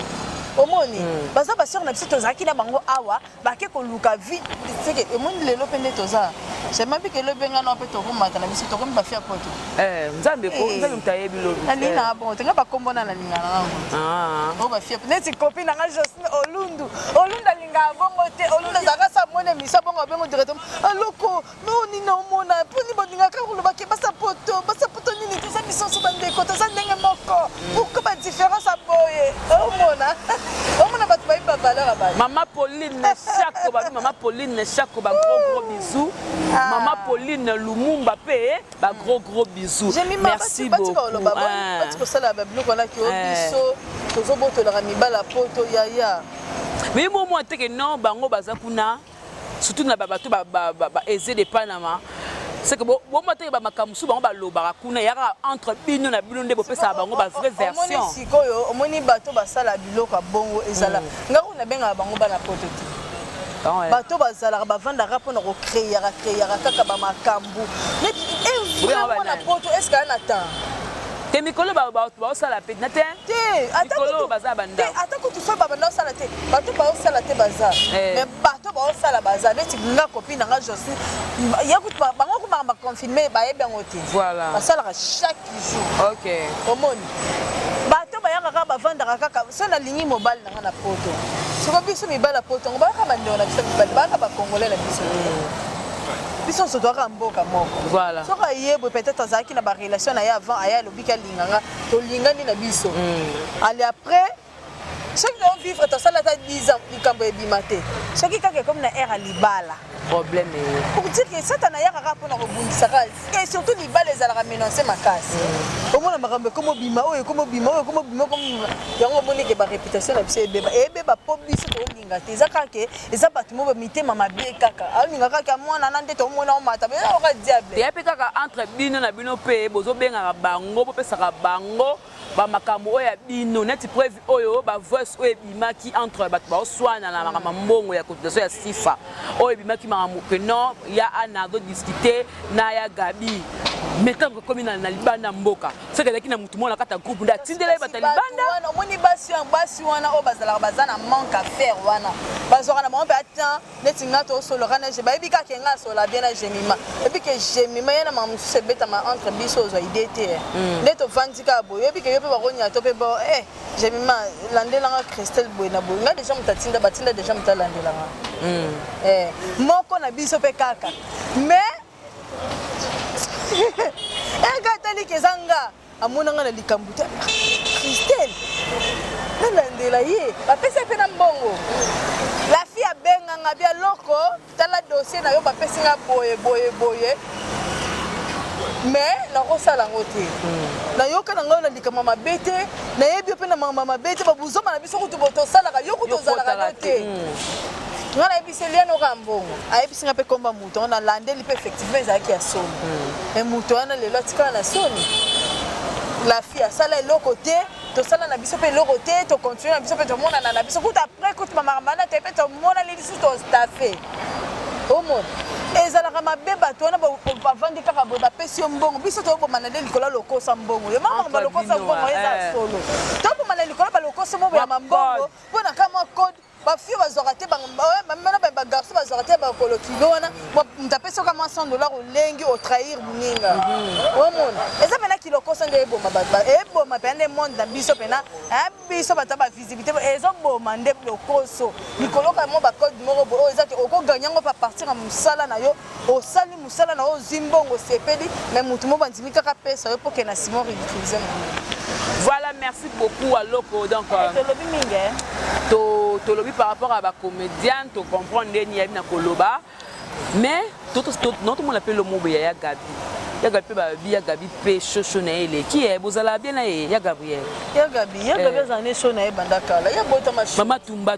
Omoni mm. baza ba sœur na biso tozalaki na bango awa bake koluka vie seke emoni lelo pe nde toza sema bike lobi nga na pe tokomata na biso tokomi ba fille ya poto. Eh nzambe ko eh. nzambe mutayebi lobi. Na linga eh. bon tenga ba kombo na na linga na ngo. Ah. Oh ba fille neti copine na nga Josine Olundu. Olunda linga bongo te olunda zaka sa mone misa bongo bengo directement. Aloko ah, Mawa nini omona poni bolingaka koloba ke basa poto basa poto nini toza misoso bandeko toza ndenge moko pourquoi ba différence ya boye omona omona bato bayebi ba valeur ya bato Mama Pauline Neshako babi Mama Pauline Neshako ba gros gros bisous. Ah. Mama Pauline Lumumba pe ba gros gros bisous. J'aime ma Merci bati bati koloba beaucoup. ba Ah. bati kosala ba biloko wana ki o Eh. biso tozobotolaka mibala poto yaya Mais moi moi teke non bango baza kuna surtout na bato ba, ba, ba, ba aise de panama seke bomataki bamakambo mosusu bango balobaka kuna eyaka entre bino na bino nde bopesaka bango bavrai version sikoyo omoni bato basala biloko ya bongo ezala mm. ngai kuna bengaka bango bana poto te ah bato bazalaka bavandaka mpo na kocreaka creaka kaka bamakambo neti eh, mwana poto eske aa na temps te mikolo bato baosala mpe na te mikolo baza banda te ata kutu fo babanda osala te bato baosala te baza eh. mais bato baosala baza neti nga kopi na nga josi ya kutu bango komaka baconfirme bayebi yango te voilà basalaka chaque jour ok omoni bato bayaka kaka bavandaka kaka so nalingi mobali Nga na poto soko biso mibali ya poto yango bayaka bandeko na biso mibali bayaka bacongolais na biso te biso nyonso toyaka mboka moko Voilà. soko ayebwe peut-être azalaki na barelation na ye avant aye alobiki alinga nga tolingani na biso ale après soki too vivre tosala ata 10 ans likambo ebima te soki kaka ekomi na aire ya libala problème eye pour dire que satana ayaka kaka mpona kobundisa kaka et surtout libala ezalaka menance makasi mm. omona makambo ekomi obima oyo ekomi obima oyo ekomi obima yango omoni ke bareputation na biso ebeba ebeba mpo biso toolinga te eza kaka ke eza bato mo bamitema mabe kaka aolinga kaka mwana na nde tomona omata oka diable eya mpe kaka entre bino na bino mpe bozobengaka bango bopesaka bango ba makambo oyo ya bino neti preuve oyo ba voice oyo ebimaki entre bato baoswana na makambo mbongo ya cotisation ya sifa oyo ebimaki makambo que non ya ana azodiscute na ya gabi mais ntango ekomi na libanda mboka soki ezalaki na motu moko na kati ya groupe nde atindela ye bata libanda omoni basi wana oyo bazalaka baza na manque affaire wana bazwaka na bango mpe ata neti nga tosolaka na je bayebi kaka nga asola bien na gemima eyebi ke gemima ye na mama mosusu ebetama entre biso ozwa idee te eh. mm. nde tovandi kaka boye oyebi ke yo mpe bakonia to mpe bo e gemima landelanga christelle boye na boye nga deja moto atinda batinda deja moto alandelanga mm. eh, moko na biso mpe kaka mais eka eh, etali ke eza nga amona nga na likambo te christelle nalandela ye bapesi ye mpe na mbongo lafi abenga nga bia loko tala dossier na yo bapesi nga boye boye boye mais nakosala yango te hmm. nayoka na ngai na likambo mabe te nayebi yo mpe na makambo mabe te babuzoma na biso kutu botosalaka yo kutu ozalaka no te hmm. nga nayebisi elianoka mbongo ayebisi nga mpe komba Donc na landeli pe effectivement ezalaki ya soni. Mais hmm. moto wana lelo atikala na soni. La fille asala eloko te, tosala na biso pe eloko te, to continue na biso pe tomonana na biso. Kuta après kuta mama mana te pe tomonani lisusu to staffe. Omona ezalaka mabe bato wana bavandi kaka boye bapesi yo mbongo biso tobomana nde likolo lokosa mbongo yo mama balokosa mbongo eza eh. solo tobomana likolo balokosa mbongo ya mambongo mpo na kamwa code ba fille bazwaka te bamema na baye bagarçon bazwaka te bakolo kilo wana moto apesi oka mwa 100 dollar olengi otrahir moninga mhm. omona eza mpena kilokosa nde eboma bato eboma mpena nde monde na biso mpena eh, biso bato ya bavisibilité ezoboma nde lokoso likoloka mwa bacode moko boye oyo eza te okoganye yango mpe apartir ya mosala na yo Osali musala na ozwi mbongo sepeli mais mutu mo bandimi kaka pesa yo poke na Simon ridiculiser na Voilà, merci beaucoup à Loco. Donc, euh, hein. to, to lobby par rapport à ba comédien, to comprendre les niabi na koloba. Mais, tout, tout, notre monde appelle le mot Yaya Gabi. ya gabi mpe babi ya gabi mpe shosho na ye eleki ye bozala bien na ye ya gabriel ya gabi ya gabi azala ne sho na ye banda kala ya botama mama tumba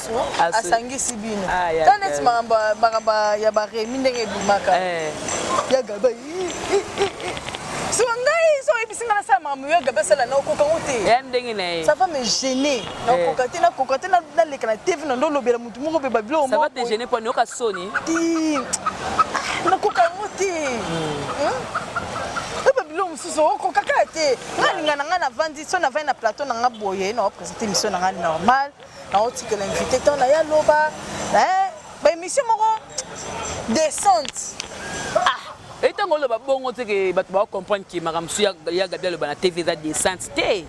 Aso, Aso. asangisi bino Ah, ya ta neti Gaby. makambo ya- makambo ya baremi ndenge ebimaka Eh, ya gaba soka ngai so oyebisi ngai nasala makambo ya gaba asala na okoka ngo te ya ndenge na ye ça va me gêner na Eh. okoka te nakoka te na- naleka na tv na ndo olobela motu moko mpe babiloko ça va te gêner mpo nayoka soni te nakoka yango te oyo babilo mosusu okokaka te nga linga na ngai navandi so navandi na plateau na ngai boye na opresente émission na ngai normal Nao tikela invité temps na ya loba. Eh, ba émission moko descente. Ah, et tant que ba bongo te que ba ba comprendre que makambo ya ya Gabi aloba na TV eza descente te.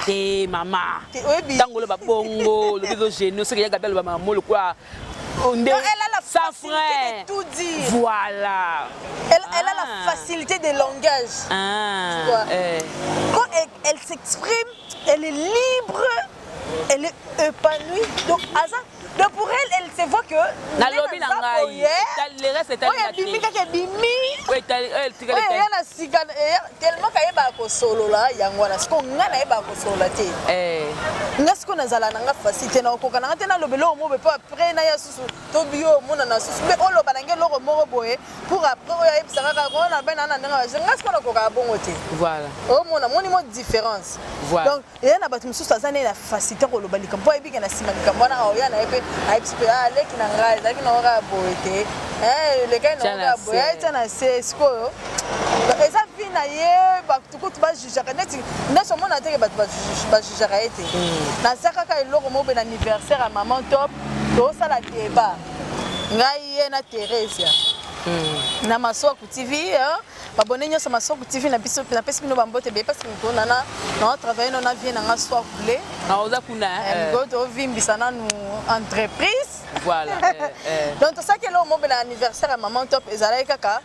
Te mama. Tant que ba bongo, le bizo génie, ce que ya Gabi aloba makambo lokola nde sans frein. Tout dire. Voilà. Elle, ah. elle a la ah. facilité de langage. Ah. Tu vois. Eh. Quand elle, elle s'exprime, elle est libre. elle est épanouie donc aza donc pour elle elle se voit que nalobi na ngai le reste etali oyo ebimi kaka ebimi oyo eya na sika tellement kayebaka kosolola yango wana sikoyo ngai nayebaka kosolola te eh. nga sikoyo nazala na nga facile te nakokoka na nga te naloba eloko moko boye mpo après naya susu to bio omonana susu mpe oloba na ngai eloko moko boye pour après oyo ayebisa kaka oyo nalobai na nga na ndenge nga sikoyo nakokaka bongo te voilà omona moni mo différence donc eza na bato mosusu aza naye na facilité koloba likambo mpo ayebike na nsima likambo wana aoya na ye mpe ayebisi mpe ah, leki na ngai ezalaki na oka boye te eh, lekai na oka boye ayetia na se sikoyo eza vi na ye bato kutu bajujaka neti neti omona teke bato bajujaka ye te hmm. naza kaka eloko moko mpe na anniversaire ya maman top tosala deba ngai ye na theresia hmm. na maswaku tv Babone nyonso Maswaku TV na biso na pesi bino bambote beye pasi miko na na na travailler no na vie na nga swa kule. Na oza kuna eh. Miko to vimbisa na nu entreprise. Voilà. eh, eh. Donc to saki lo mobe na anniversaire ya maman top ezalaki kaka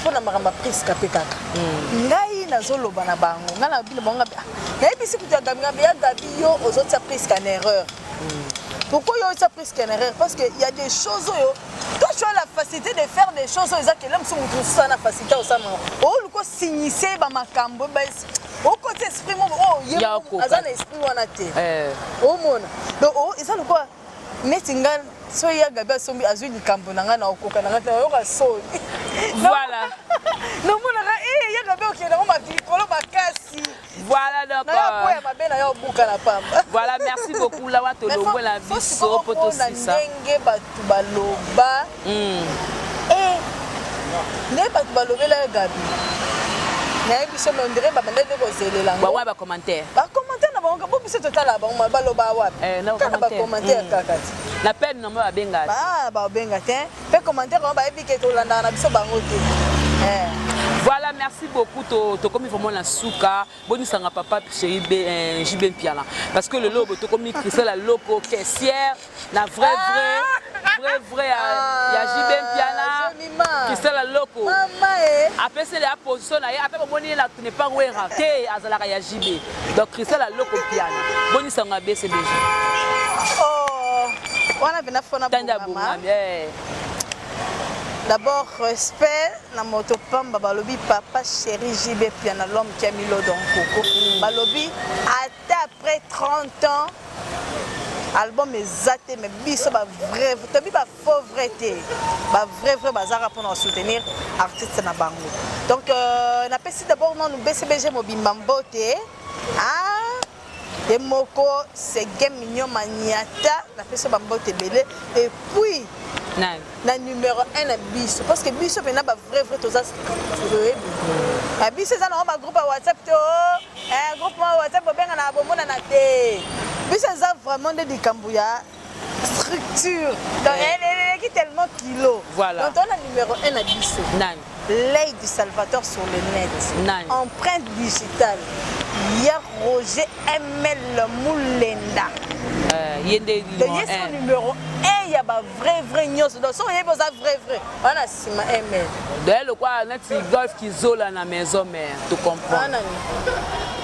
mpo na makambo ya priska mpe kaka mm. ngai nazoloba na bango ngai na bino bango ngabi ah, nayebisi kutu ya gabi ngabi ya gabi yo ozotia priska na erreur mm. pourquoi yo otia priska na erreur parce que ya des choses oyo Toi, tu as la facilité de faire des choses oyo eza kele mosusu moto mosusu na facilité osama oluka osignise bamakambo okoti esprit moko oh, oyo aza na esprit wana te eh. omona donc oh, eza lokola neti nga so ya gabi asombi azwi likambo na ngai na okoka na ngai te nayoka soni voilà nomonaka eh, ya gabi okende yango makolo makasi Voilà donc. Euh, voilà, merci beaucoup la wato longwe la biso poto sisa. Ndenge batu baloba. Mm. Eh. Ndenge batu balobela Gabi. nayebi biso me ondire babanda nde kozelela yango ba commentaire ba commentaire na bango bo biso totala bango baloba wapi eh, kaka ba commentaire mm. kaka ti na peine na bango babenga te babenga te Pe commentaire wana bayebi ke tolandaka na biso bango te. Eh. Voilà, merci beaucoup. Tokomi vraiment la souka. Bonisanga papa chéri euh, JB Mpiala. Parce que le lobo, tokomi Christelle la loco caissière, la vraie vraie. Ah. vrai vrai ya, ah, ya JB Mpiana Christelle Loko eh. apeseli ya position na ye ata bomoni ye na ne pas wera te azalaka ya JB Donc Christelle a loko piano. Boni sango a baissé déjà. Oh, wana vena fona Tanda boma. Eh. D'abord respect na moto pamba balobi papa chéri JB piano l'homme qui a mis l'eau dans coco. Mm. Balobi ata après 30 ans album eza te mais biso ba vrai tobi ba faut vrai te ba vrai vrai bazaka mpona soutenir artiste na bango donc euh, napesi d'abord nanu bcbg mobimba mbote ah, ye moko sege mignon maniata napesi bambote ebele et puis nani na numéro 1 na biso parce que biso mpena ba vrai vrai toza toyebi na biso eza nango bagroupe ya whatsapp te o eh, groupe ma whatsapp bobenga na bomonana te biso eza vraiment nde likambo ya structure donc eh. elle eleki tellement kilo voilà donc tona numéro 1 na biso nani l'œil du salvateur sur le net nani empreinte digitale ya roger ml mulenda euh, ye nde ye son numéro 1 ya ba vrai vrai nyonso donc soki oyebi oza vrai vrai wana nsima ml doye lokola neti golf kizola na maison mare to comprendre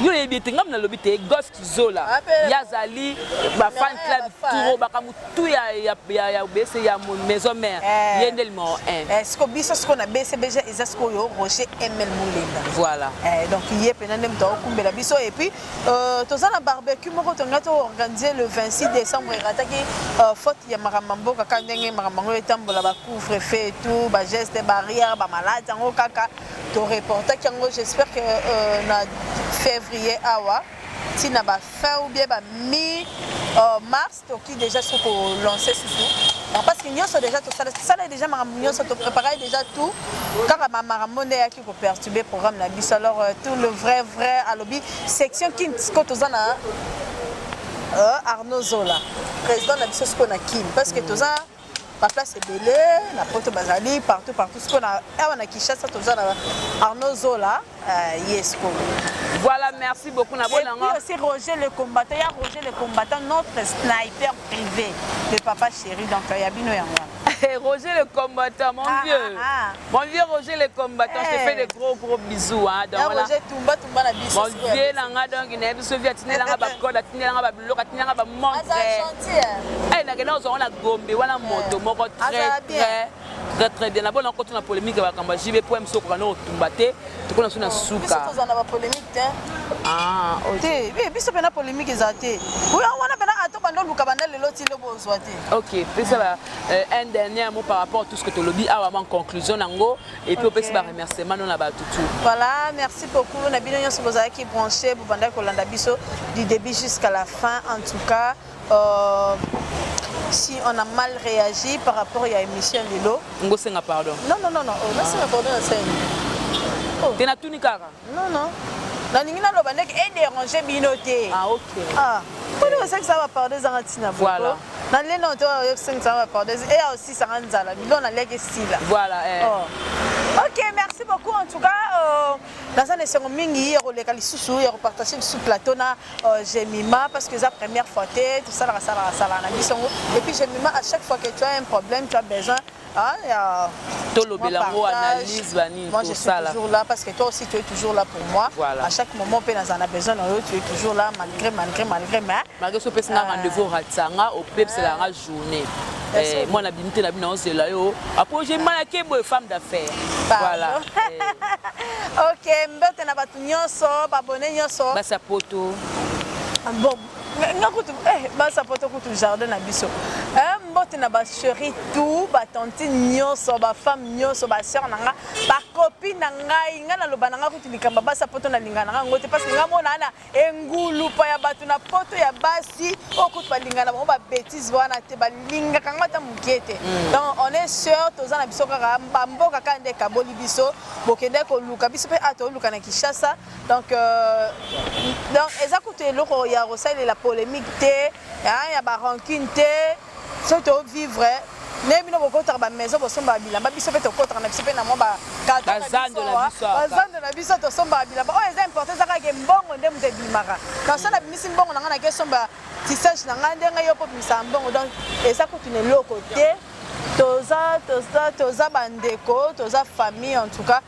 yo oyebi ete ngai nalobi te golf Zola ye azali ba fan club turo bakambo tu ya ya ya ya obese ya mo- maison mère Eh. ye nde limao 1 Eh, siko biso siko na bcbg eza sikoyo roger ml mulenga voilà Eh, donc ye mpena nde moto akokumbela biso et puis euh, toza na barbecue moko tongai toorganize le 26 décembre erataki euh, faute ya makambo ya mboka kaka ndenge makambo yango etambola bacouvre fait et tout bageste barrière bamalade yango kaka To reportaki yango j'espère que euh, na février awa ti na ba fin ou bien ba mi euh, mars toki déjà so ko lancer susu parce que nyonso déjà tosala tosala déjà makambo nyonso topreparai déjà tout kaka makambo nde eyaki koperturbe programme na biso alors euh, tout le vrai vrai alobi section kin siko toza na euh, arnaud zola président na biso sikoyo na kin parce que toza ba place ebele na poto bazali partout partout sikoyo na awa na kinshasa toza na arnaud zola uh, ye sikoyo voilà merci beaucoup na bonango et puis aussi roger le combattant ya roger le combattant notre sniper privé le papa chéri donc ya bino yango roger le combattant mon ah, vieux ah, ah. Mon vieux Roger le combattant, je te fais de gros gros bisous hein. Donc voilà. Roger tumba tumba na biso. Mon vieux na nga donc na biso vieux atinela nga ba code, atinela nga ba biloko, atinela nga ba montre. Aza gentil. Hein. Eh na kenda ozonga na Gombe wana moto moko très très très très bien. Na bona ko tuna polémique ba kamba JB poème soko kana otumba te. Tokona suna suka. Biso tozana ba polémique te. Ah, OK. Te, mais biso pena polémique ezate. Oui, on wana pena ato bando luka banda lelo ti lobo ozwa te. OK, pesa ba Euh, un dernier mot par rapport à tout ce que tu lobby awa en conclusion nango et puis opesi ba remerciement na ba tutu voilà merci beaucoup na bino nyonso bozalaki branché bobandaki kolanda biso du début jusqu'à la fin en tout cas euh, si on a mal réagi par rapport à l'émission Lilo. Ngosenga pardon. Non non non non, oh, ngosenga pardon na scène. Oh. Tena tuni kaka. Non non. Nalingi naloba ndeke e deranger bino te. Ah okay. Ah. Pona ah. osaki ça va parler zanga tina boko. Voilà. Na leno to yokisaki ça va parler. Et aussi ça nga nzala. Bilo na leki stila. Voilà eh. Oh. Ok, merci beaucoup en tout cas. Euh, naza na esengo mingi ya koleka lisusu ya kopartage lisusu plateau na euh, jemima parce que eza première fois te tosalaka salaka salaka na biso yango et puis jemima à chaque fois que tu as un problème tu as besoin Ah, yeah. tolobela yango analyse banini tosala toujours là parce que toi aussi tu es toujours là pour moi voilà. à chaque moment mpe nazala na besoin na yo tu es toujours là malgré malgré malgré mais malgré so opesi nga euh, rendez-vous ratisa nga opebisela nga journée eh, mwana bimi te na bino naozela yo apo je malake boye femme d'affaires voilà eh. ok mbote na bato nyonso babone nyonso basi ya poto ah, bon nga kutu eh, basapoto kutu jardin na biso eh, mbote na bacheri tout batantine nyonso bafemme nyonso basœur na nga bakopi na ngai nga naloba na nga kutu likambo basapoto nalinga na nga yango te parce que nga mona ana engulupa ya bato na poto ya basi oyo oh, kutu balingana bango babétise wana te balingaka yango ata moke te mm. donc on est sœur toza na biso kaka bamboka kaka nde ekaboli biso bokende koluka biso mpe a ah, toluka na kinshasa Donc, euh, donc eza kutu eloko ya kosalela polemique te hein, ya barancune te soki tovivre ndenge bino bokotaka bamaison bosombaka bilamba biso mpe tokotaka na biso mpe na mwa bazando na biso tosombaka bilamba oyo eza importe eza kaka mbongo nde moto ebimaka na so nabimisi mbongo na ngai nake esomba tisage na ngai ndenge yo mpo obimisaka mbongo donc eza kutu na eloko te toza toza toza bandeko toza famille en tout cas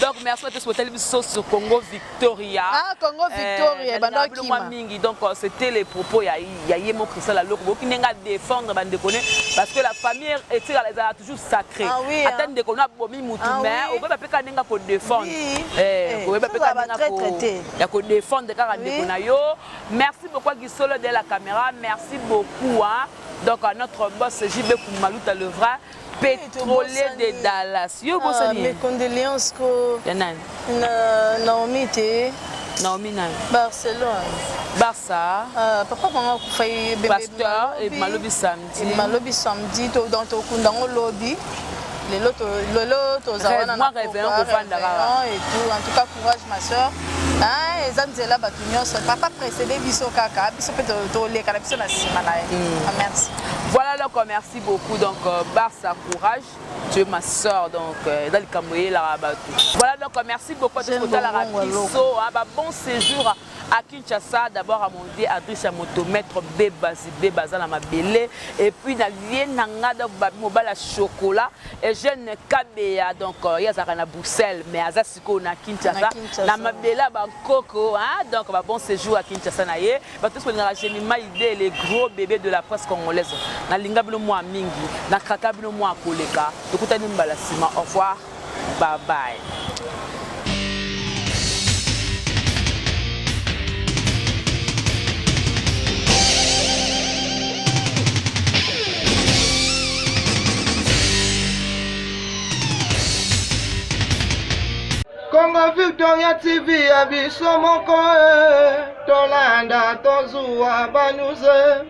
Donc merci à tous pour telle sur Congo Victoria. Ah Congo euh, Victoria, euh, banda kima. mingi donc euh, c'était les propos ya ya Yemo Christian la loko boki nenga défendre bande connaît parce que la famille est est toujours sacrée. Ah, oui, Attends hein. de kona bomi mutu ah, mais oui. okoba peka nenga ko défendre. Oui. Eh, eh okoba peka nenga ko ya ko défendre kaka ndeko na yo. Merci beaucoup à Gisolo de la caméra. Merci beaucoup hein. Donc à notre boss JB Koumalouta le vrai Petrolier de Dallas. Yo bosani. Ah, mes condoléances ko. Ya nani? Na Naomi te. Naomi nani? Barcelone. Barça. Ah, papa kanga kufa ye bebe. Pasteur et malobi samedi. Et malobi samedi to dans to kunda ngo lobi. Lelo to lelo to za wana na réveillon ko fanda kaka. Et tout en tout cas courage ma sœur. Ah, eza nzela bato nyonso papa précédé biso kaka biso mpe toleka na biso na nsima na ye mm. ah, merci voilà le commerce Merci beaucoup donc euh, Barça courage tu es ma soeur donc euh, eza likambo eyelaka bato voilà donc euh, merci beaucoup ati kotalaka biso ba bon séjour à Kinshasa d'abord à mon dieu adresse ya moto maître beba zibeba aza na mabele et puis na lie na nga donc babi mobala chocolat et jeune kabeya donc ye azalaka na bruxelles mais aza sikoyo na Kinshasa na mabele ya bankoko hein? donc ba bon séjour à Kinshasa na ye bato nyonso balingaka Gemima idée le gros bébé de la presse congolaise nalinga bino mwa mingi nakaka bino mwa koleka tokutani mbala nsima au revoir bye bye Congo Victoria TV ya biso moko eh, tolanda tozuwa banyuze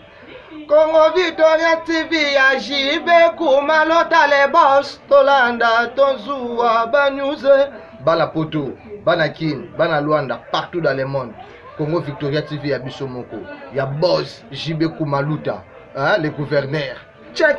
Congo Victoria TV ya JB Kuma Lotale Boss tolanda tozuwa banyuze bana poto bana kin bana luanda partout dans le monde congo victoria tv ya biso moko ya bos jb kumaluta hein, le gouverneur check